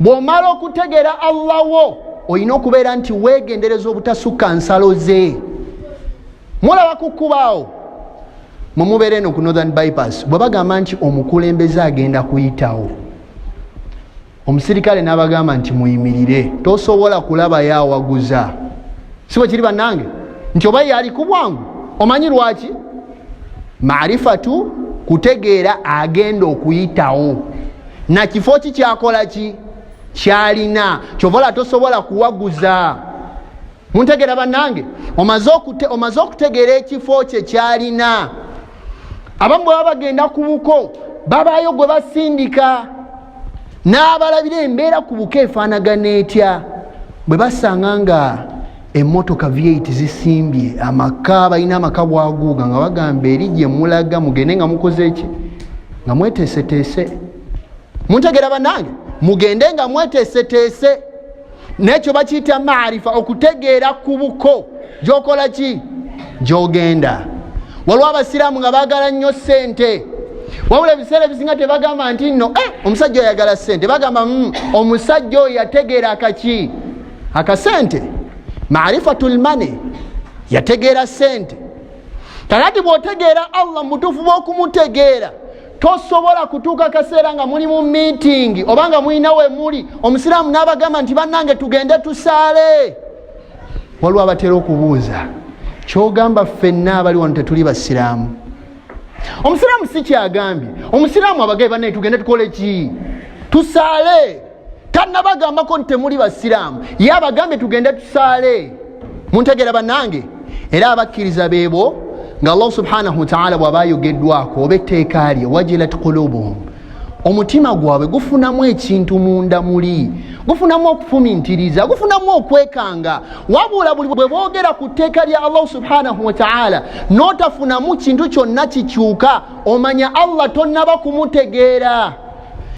bw'omala okutegeera allah wo olina okubeera nti weegendereza obutasukka nsalo ze mulaba ku kkubaawo mwe mubeera eno ku northern bypass bwe bagamba nti omukulembeze agenda kuyitawo omusirikale n'abagamba nti muyimirire tosobola kulaba yawaguza si bwe kiri bannange nti oba yali ku bwangu omanyi lwaki marifatu kutegeera agenda okuyitawo na kifo ki kyakola ki kyalina kyovala tosobola kuwaguza muntegera bannange omaze okutegeera ekifo kye kyalina abamu bwe baba bagenda ku buko babaayo gwe basindika n'abalabira embeera ku buko efaanagana etya bwe basanga nga emotoka v8 zisimbye amaka balina amaka bwaguuga nga bagamba eri gye mulaga mugende nga mukoze eki nga mweteeseteese muntegera banange mugende nga mweteeseteese nekyo bakiyita maarifa okutegeera ku buko gyokola ki gyogenda waliwo abasiraamu nga bagala nnyo sente wabula ebiseera ebisinga tebagamba nti nno eh, omusajja oyagala sente bagamba mm, omusajja oyo yategeera kaki akasente marifatu lmane yategeera sente kakati bwotegeera allah mubutuufu bwokumutegeera tosobola kutuuka kaseera nga muli mu miitingi oba nga mulina we muli omusiraamu n'abagamba nti bannange tugende tusaale waliwo abatera okubuuza kyogamba ffenna abali wano tetuli basiraamu omusiraamu si kyagambye omusiraamu abagaye bannaye tugende tukole ki tusaale tanabagambako nti temuli basiraamu ye abagambye tugende tusaale muntegera bannange era abakkiriza beebo nga allah subhanahu wataala bwaba ayogeddwako oba etteeka lye wajilat kulubuhum omutima gwabwe gufunamu ekintu munda muli gufunamu okufumintiriza gufunamu okwekanga wabula buli bwe boogera ku tteeka lya allahu subhanahu wataala n'otafunamu kintu kyonna kikyuka omanya allah tonnaba kumutegeera